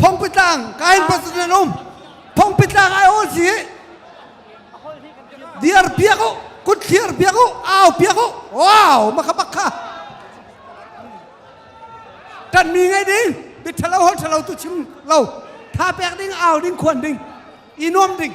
Phongpitlang kain pasin an um Phongpitlang ai ol hi dir piak u kutthlir piak u au piak u wow makabak kha kan mi ngai ding bi thalo hol thalo tu chim lo tha pek ding au ding khuan ding i nuam ding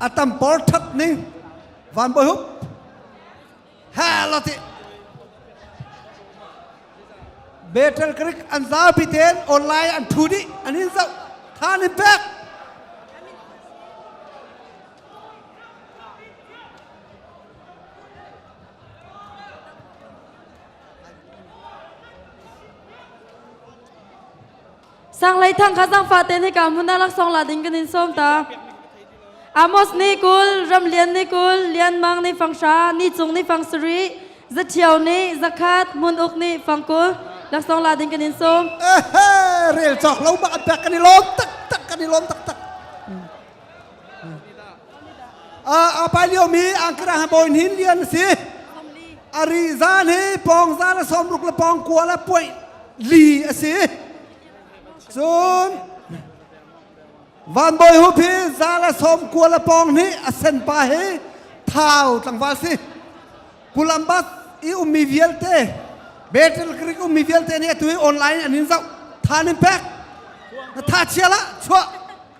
atam por that ning van boy hup hela ti betel krik an za pi ten online an thu di an hin zau than in pek Sanglei thang kha zang fa ten hika hmun ah laksong la ding kan in sawm ta. Amos ni kul, Ramlian ni kul, Lianmang ni fangsha, ni cung ni fangsari, zathiao ni, zakhat, mun uk ni fangkul, laksong la ding kan in sawm. Eh, rel cok lo ma kan i lom tak tak kan i lom tak tak. a pai liomi angkra bawi hin lian a si a ri zan hi pawng zan a sawmruk le pawng kua le puai li a si cun van bawi hu phi za le sawm kua le pawng nih a sen pa hi thau tlangval si kulambat i ummi vialte betel krik ummi vialte nih atu hi online an in zoh than in pek na tha chia la chuah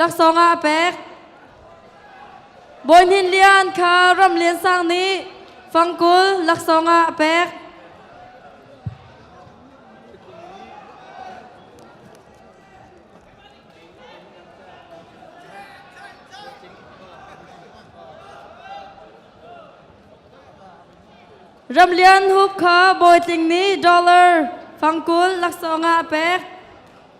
laksawng ah a pek Bawi Hnin Lian kha Ram Lian Sang nih fangkul laksawng ah a pek Ram Lian Hup kha Bawi Tling nih dollar fangkul laksawng ah a pek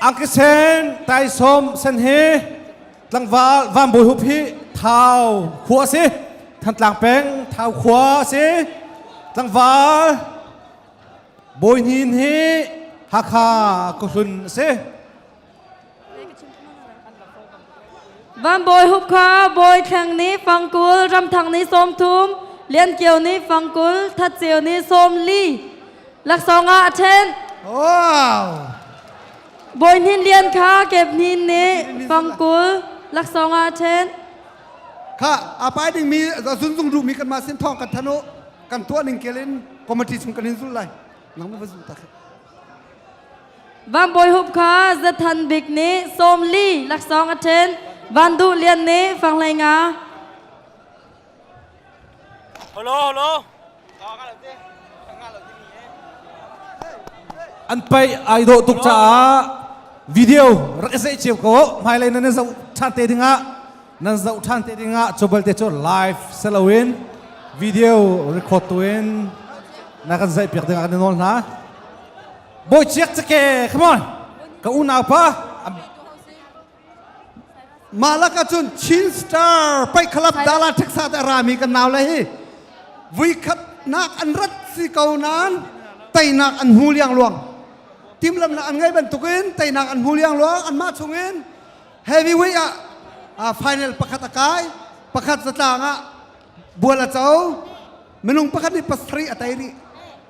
Angkisen taisawm sen hi tlangval van bawi hup hi thau khua si thantlang peng thau khua si tlangval bawi hnin hi Hakha kuhlun si Van Bawi Hup kha Bawi Thleng nih fangkul, Ramthang ni sawmthum, Lian Kio ni fangkul, That Ceu ni sawmli laksawng ah a ṭhen. Wow! Bawi Hnin Lian kha Kep Hnin nih fangkul laksawng ah a ṭhen. Kha aa pai dingmi zunzung ruhmi kanmah sin thawng kan thanh u. Kan tuah ning kel in committee chung kan in zul lai. Nangmah va zul ta khi. Vangbawi Hup kha Zathan Bik nih sawm li laksawng a ṭhen. Van Duh Lian nih fanglei nga. Holo holo. An paih ai dawh tuk caah video rak i seih cio ko. Hmailei nan i zoh ṭhan te dingah nan zoh ṭhan te dingah cu balte cu live si loin video record tu in na kan zeih piak dingah kan i nawl hna. Bawi ciak cake, come on. Ka unaupa mah lakah cun Chin Star paih khalap dala ṭheksa te rami kan nau le hi vui khatnak an rat si ko nan teinak an hmu liang luang timlamnak an ngei bantuk in teinak an hmu liang luang anmah chungin heavyweight ah uh, final pakhat a kai pakhat zatlang ah bual a co minung pakhat nih pasarih a tei rih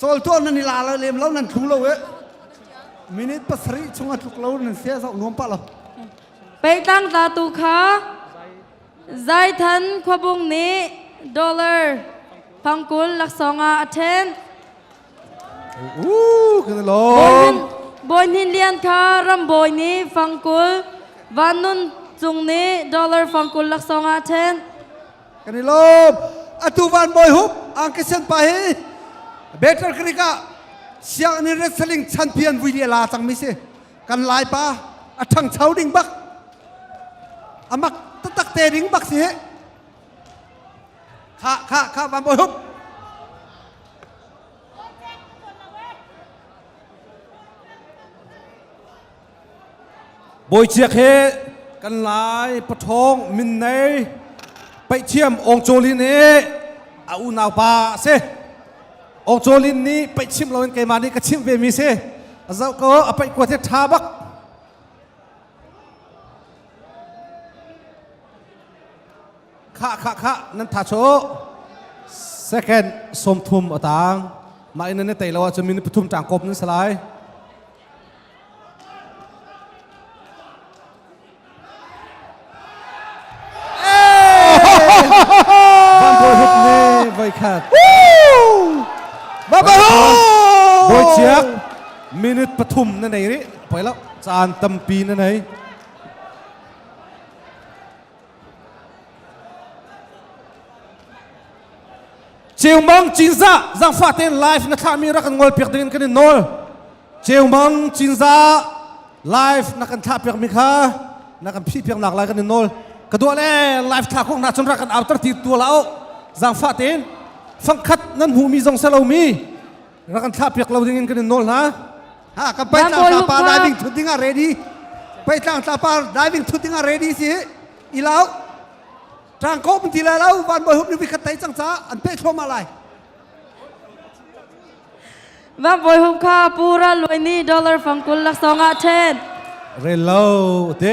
Cawl tuah nan i la lem lo nan thlung lo e. Minute pasarih chung a tluk lo nan se zau nuam pa lo. Peitang ta tu kha Zaithan Khuabung nih dollar pangkul laksawng ah a ṭhen. Uh, kan lom. Bawi Hnin Lian kha Rambawi nih fangkul Van Nun Cung nih dollar fangkul laksawng ah a ṭhen. kan i lawm atu van bawi hup angkisen pa hi better creek ah sianginn in wrestling chanpi an vui lia la cangmi si kan lai pa a ṭhangcho ding bak amak tatak te ding bak si hi kha kha kha van bawi hup Bawichiak he kan lai pathawng min nei paithiam Ong Cawlin hi a unaupa a si. Ong Cawlin nih paih chim loin keimah nih ka chimh ve mi si. A zoh ko a paih kuat hi tha bak. Kha kha kha nan tha cho. Second sawm thum a tang. Mah in nan tei lo ahcun min pathum tang kop nan salai. voikhat. Bawi ciak minute pathum na nei ri poi lo caan tampi na nei. Ceungmang Cinzah zangfah tein live na thlahmi rak kan ngol piak dingin kan in nawl Ceungmang Cinzah live na kan thlah piakmi kha na kan phi piak nak lai kan in nawl ka duah le live thla kong hna cun rak kan auter ti tua la o zangfah tein fangkhat nan hmuhmi zong se lomi rak kan thlah piak lo ding in kan in nawl hna ha kan pai tlang tla pa diving thut ding ah ready pai tlang tla pa diving thut ding ah ready si ilau trang ko mun ti la lo van boy hup ni khat tai chang cha an pe thloma lai va boy hum kha pura luini dollar fangkul lak songa then relo te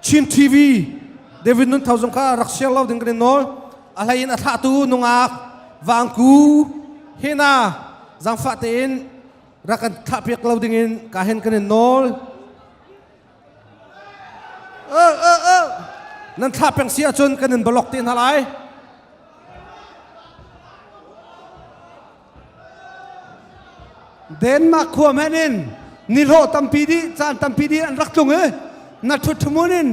Chin TV David Nun Thau zong kha rak share lo ding kan in nawl a hlei in a thlahtu nungak Vangku hena zangfah tein rak kan thlahpiak lo ding in ka hen kan in nawl uh, uh, uh. nan thlah peng si ahcun kan in blog te hna lai Denmark khua men in nihlawh tampi dih caan tampi dih an rak tlung i na ṭhuṭhumun in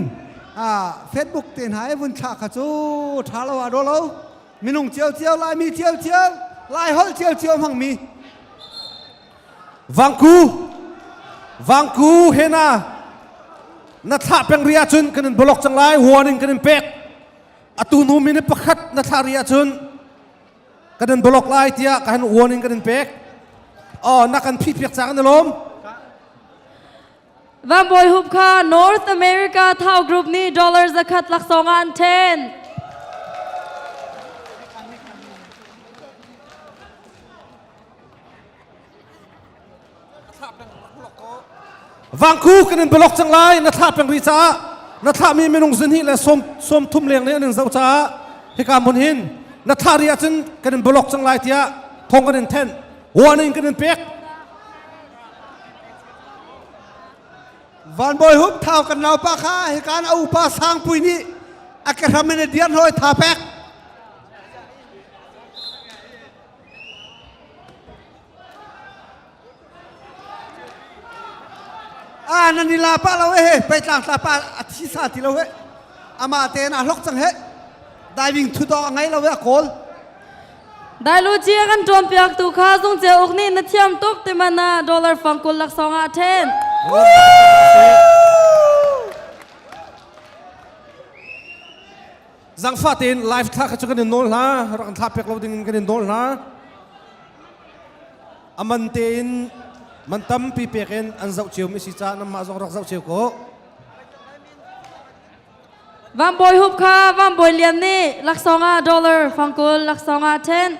Facebook te hna i vun thlah kha cu ṭha lo a daw lo minung ciocio laimi ciocio laiholh ciocio hmangmi vangku vangku hena na thlah peng ri ahcun kan in block cang lai warning kan in pek atu hnu minute pakhat na thlah ri ahcun kan in block lai tiah kan warning in kan in pek oh nak kan phih piak cang na lawm Van Boy Hup kha North America Thao Group nih dollars zakhat laksong an then. Vangku kan in blok cang lai na thlah peng rih caah na thlahmi minung zunhi le sawm sawm thum leng nih an in zoh caah hika mun hin na thlah rih ahcun kan in blok cang lai tiah thong kan in thenh warning kan in pek Van Bawi Hup thau kan naupa kha hikan a upa Sangpui nih a kehram in a diar hoi tha pek Ah nan i la pah lo he peitlang tla pa a thi sa ti lo he amah tein a hlok cang he diving thu dong a ngei lo he a kawl dailuci kan tuam piak tu kha zung che uk ni na thiam tuk te mana dollar fang kul lak song a then Zangfah tein live thla kha cu kan in nawl hla, rak in thla pek lo ding in kan in nawl hla. Aman tein man tampi pek in an zoh cio mi si ca namah zong rak zoh cio ko. Van Bawi Hup kha Van Bawi Lian nih laksawng ah dollar, fangkul laksawng ah ten.